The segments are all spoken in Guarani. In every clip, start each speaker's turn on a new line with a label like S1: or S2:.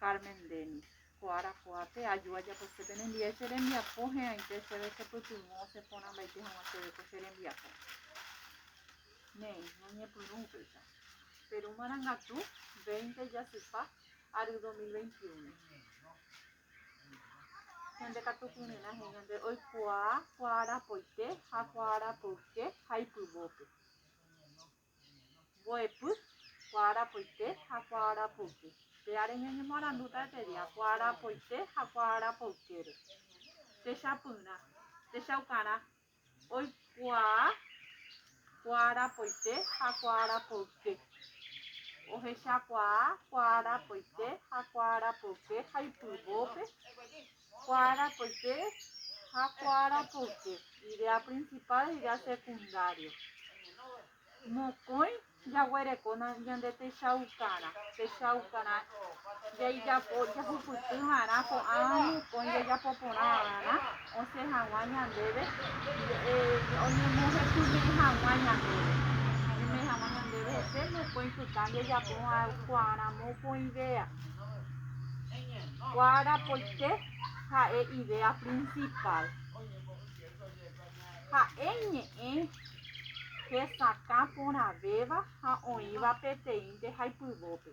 S1: Carmen Denis, Ko arakuápe aju ajaposépe nembie che rembiapo he'ãite chéve chepytyvõ cheporãmbaite hag̃ua chéve ko che rembiapo. Néi, ñañepyrũ upéicha. Perú marangatu, 20 jasypa, ary 2021. Ñande katu kyre'ỹ he'i ñande oikuaa kuaarapoite ha kuaarapoyke ha ipyvópe. Mbo'epy, kuaarapoite ha kuaarapoyke. Péare ñañemoarandúta pe dia kuaarapoite ha kuaarapoykére. Techapyrã, techaukarã, oikuaa kuaarapoite ha kuaarapoyke. Ohechakuaa kuaarapoite ha kuaarapoyke ha ipyvópe Kuaarapyte ha kuaarapyke, idea principal ha idea secundario. Mokõi jaguerekóna ñande techaukarã, techaukarã jaijapo jahupyty va'erã ko'ág̃a mokõi jajapo porã va'erã osẽ hag̃ua ñandéve, oñemohetyme'ẽ hag̃ua ñandéve, oñeme'ẽ hag̃ua ñandéve hese mokõi pytã jajapo va'erã kuaarã mokõivéva. Guarapoite ha'e idea prinsipál. Ha'e ñe'ẽ hesakã porãvéva ha oĩva peteĩnte haipyvópe.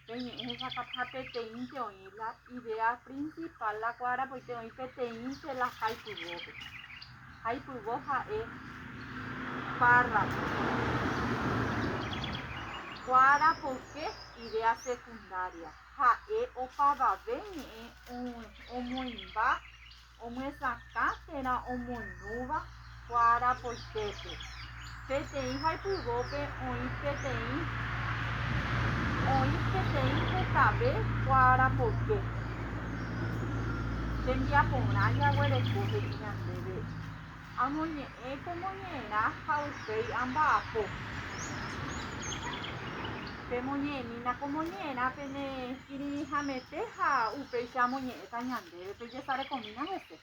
S1: Pe ñe'ẽ hesakã ha peteĩnte oĩ la idea prinsipál la Guarapoite oĩ peteĩnte la haipyvópe. Aipyvo ha'e párrapo kuára poke idea secundaria ha'e opavave ñe'ẽ omoĩmba omyesakã térã omoirũva kuára poitépe. Peteĩ haypyvópe oĩ peteĩ oĩ peteĩ hekave kuarapoyke. Tembiaporã jaguereko he'i ñandéve, Amoñe'ẽ ko moñe'ẽrã ha upéi amba'apo. Pemoñe'ẽmína ko moñe'ẽrã pene kirirĩhamete ha upéicha amoñe'ẽta ñandéve, pejesarekomína hese.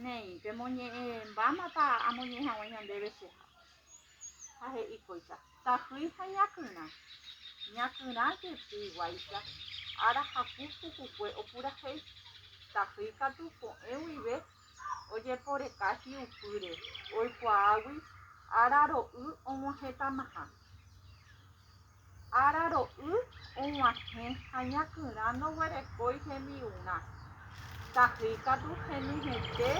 S1: Néi, pemoñe'ẽ mbámapa amoñe'ẽ haguã ñandéve cheha. Ha he'i kóicha, Tahýi ha ñakyrã. Ñakyrã jepi guáicha, ára haku pukukue opurahéi. Tahýi katu ko'ẽ guive ojeporeka hi'upýre, oikuaágui ára ro'y og̃uahẽtamaha. Ára ro'y og̃uahẽ ha ñakyrã ndoguerekói hembi'urã. Tahýi katu henyhẽte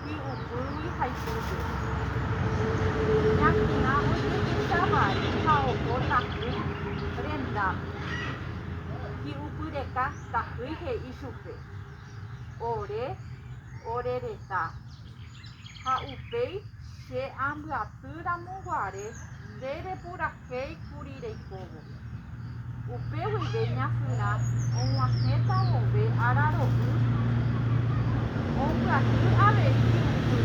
S1: hi'upýgui ha ipýpe. Ñakyrã ojehecha vai ha oho tahýi rendápe. Hi'upyreka tahýi he'i chupe, Ore, ore retã, ha upéi che ambyaty ramo guare nde repurahéi. He'i kuri reikóvo. Upe guive ña Fyrã og̃uahẽta vove ára ro'y, ombyaty avei yvy.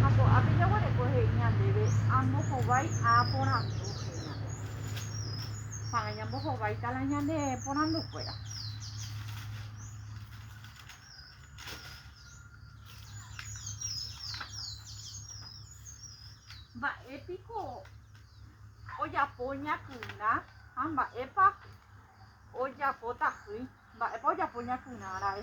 S1: Ha ko'ápe jaguereko he'i ñandéve amohovái a porandu he'i ñande. Tanga ñambohováita la ñane porandu kuéra. Mba'épiko ojapo ñakyra ha mba'épa ojapo tahýi, mba'épa ojapo ñakyra ra'e.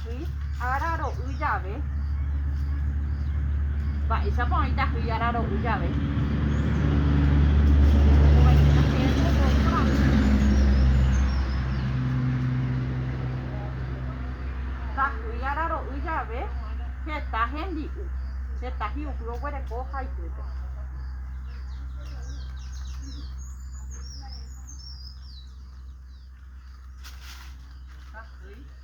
S1: Hyi ára ro'y jave. Mba'éichapa oĩta hyi ára ro'y jave? jave heta hembi'u, heta hi'upy oguereko ha ypýpe.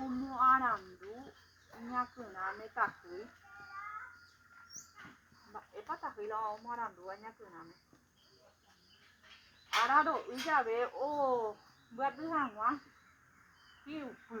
S1: Omoarandu ñakyrã ne tahýi. Mba'épa tahýi la omoarandúva ñakyrãme? Araro'y jave ombyaty hag̃ua hi'upy.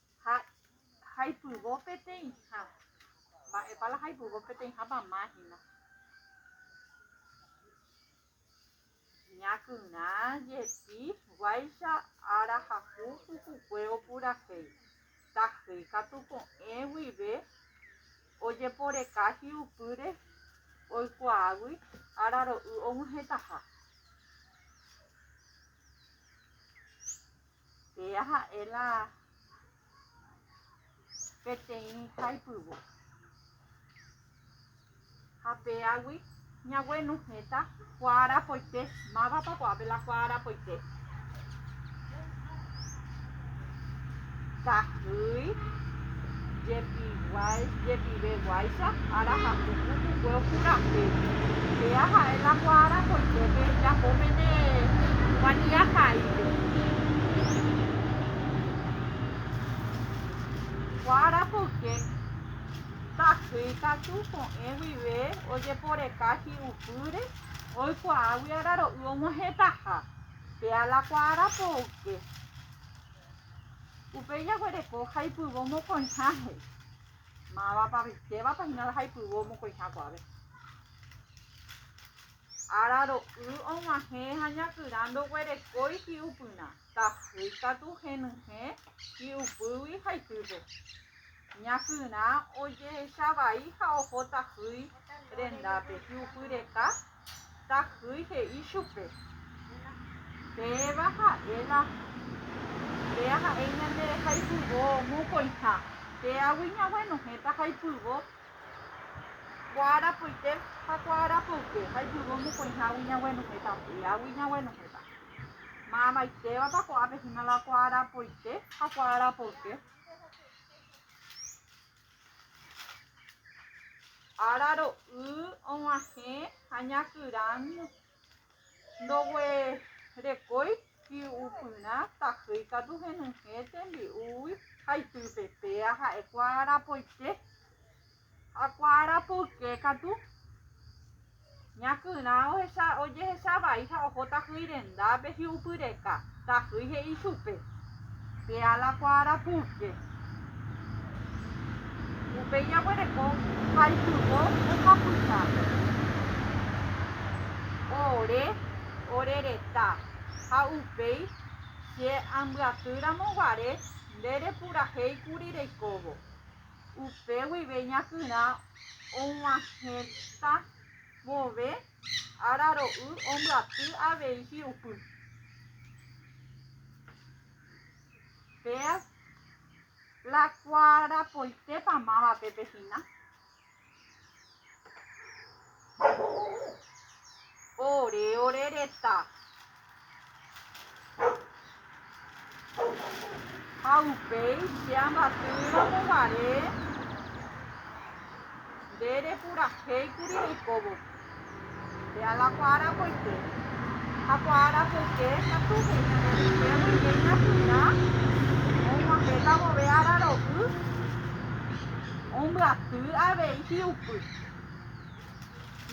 S1: Ha jaipyvo peteĩha. Mba'épa la jaipyvo peteĩhápa máhina? Ñakyna jepi guáicha ára haku pukukue opurahéi. Tahýi katu ko'ẽ guive ojeporeka hi'upýre oikuaágui araro'y og̃uahẽtaha. Péa ha'e la peteĩ haipyvo. Ha péagui ñaguenuhẽta kuaa arapoite. Mávapa ko'ápe la kuaa arapoite? Tahýi. Jepive guáicha ára ha puku pukue opurahéi. Péa ha'e la kuaára koitépe japo pene humanidad paípe. Kuaára poyke takyi katu ko'ẽ guive ojeporeka hi'upýre oikuaágui araro'y omohetaha. Péa la kuaára poyke. Upéi jaguereko jaipyvo mokõiháhe. Mávapa rykevapa hína la jaipyvo mokõiha kuave. Ára ro'y og̃uahẽ ha ñakyra ndoguerekói hi'upyrã, tahýi katu henyhẽ hi'upýgui ha itýpe. Ñakyra ojehecha vai ha oho tahýi rendápe, hi'upyreka Tahýi he'i chupe, Péva ha'e la nde aha'éi ñande rehaypyvo mokõiha, péagui ñaguenohẽ tahaypyvo kuaarapoite ha kuaarapyve, haypyvo mokõihágui ñaguenohẽta péagui ñaguenohẽta. Maamaitévapa ko'ápe hína la kuaarapoite ha kuaarapyve? Ára ro'y og̃uahẽ ha ñakyrã ndoguerekói hi'upyrã tahýi katu henyhẽ tembi'úgui ha ipype, péa ha'e kuaarapoite ha kuaarapoyke katu. Ña kyrã ohecha ojehecha vai ha oho tahýi rendápe hi'upy reka. Tahýi he'i chupe, Pe ala kua arapúke. Upéi jaguereko ha ipyvo ohapyha. Ore, ore reta, ha upéi che ambyaty ramo guare nde repurahéi kuri reikóvo. Upe guive ñakyrã og̃uahẽta vove ára ro'y ombyaty avei hi'upy. Péa la kuarapoitépa mávape pe hína. Ore ore reta. Ha upéi che ambatýramo guare nde repurahéikuri oikóvo. Péa la kuaarapoike. Ha kuaarapoike katu heñoi'aite guive ñapyrã og̃uahẽta vove araro'y ombyaty avei hi'upy.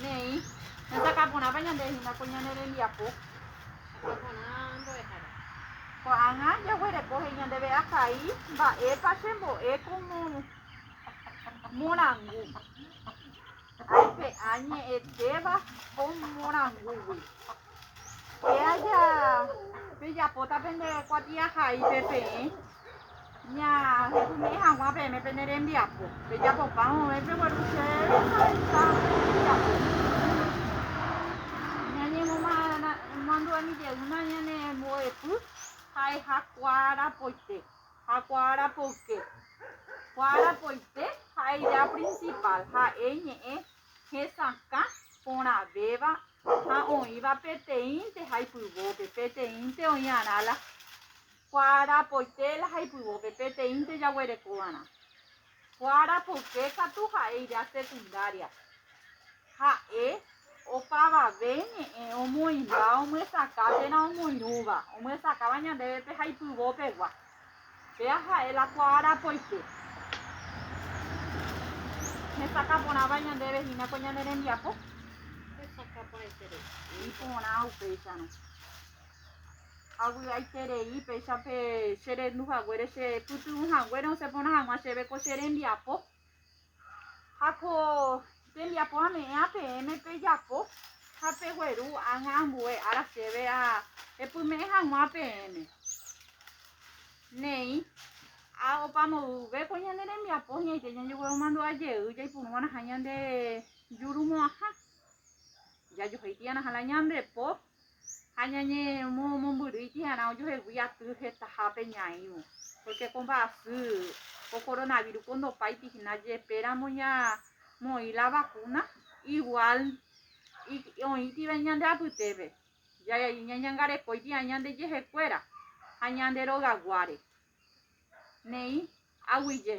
S1: Neĩ, hesakãporãpa ñande hína ko ñane rembiapo. Sakãporã mbo'ehára. Ko'ág̃a jaguereko he'i ñandéve ahai mba'épa chembo'e ko morangu. Aipe'a ñe'ẽtéva ko morangúgui. Pe aja pejapóta pende kuatiahaípe peẽ ñahepune'ẽ hag̃ua peẽme pene rembiapo. Pejapopa vove pegueru chéve ha heta rembiapo. Ñañemomandu'emijeýma ñanembo'epy ha'eha kuarapoite. Ha kuaára poyke. Kuaára poyke ha'e ija prinsipál, ha'e ñe'ẽ hesakã porãvéva ha oĩva peteĩnte haipyvópe, peteĩnte oĩarã la kuaára poyke la haipyvópe, peteĩnte jaguerekova'erã. Ko arapuke katu ha'eira secundaria. Ha'e opavave ñe'ẽ omoĩmba omyesakã térã omoirũva, omyesakáva ñandéve pe haipyvo pegua. Péa ha'e la ko arapoite. Hesakã porãva ñandéve hína ko ñane rembiapo. Hesakã porãiterei. Iporã upéicharõ. Avy'aiterei péicha pe che rendu haguére che pytyvỹ haguére osẽ porã hag̃ua chéve ko che rembiapo. Ha ko tembiapo ame'ẽa peẽme pejapo ha pegueru ág̃a ambue ára chéve ha epyme'ẽ hag̃ua peẽme. Néi, ha opa moõguive ko ñane rembiapo hi'ãite ñajegueromandu'a jey jaipuru va'erãha ñande jurumo'ãha, jajohéi tĩva'erãha la ñande po. Ha ñañemomombyry tĩarã ojohegui aty hetahápe ñaĩvo, pórke ko mba'asy, ko koronavírus ko ndopáiti hína jepéramo ñamoĩ la vakúna, iguál oĩtiva ñande apytépe ñañangarekói tĩarã ñande jehekuéra ha ñande rogaguáre. Néi aguyje.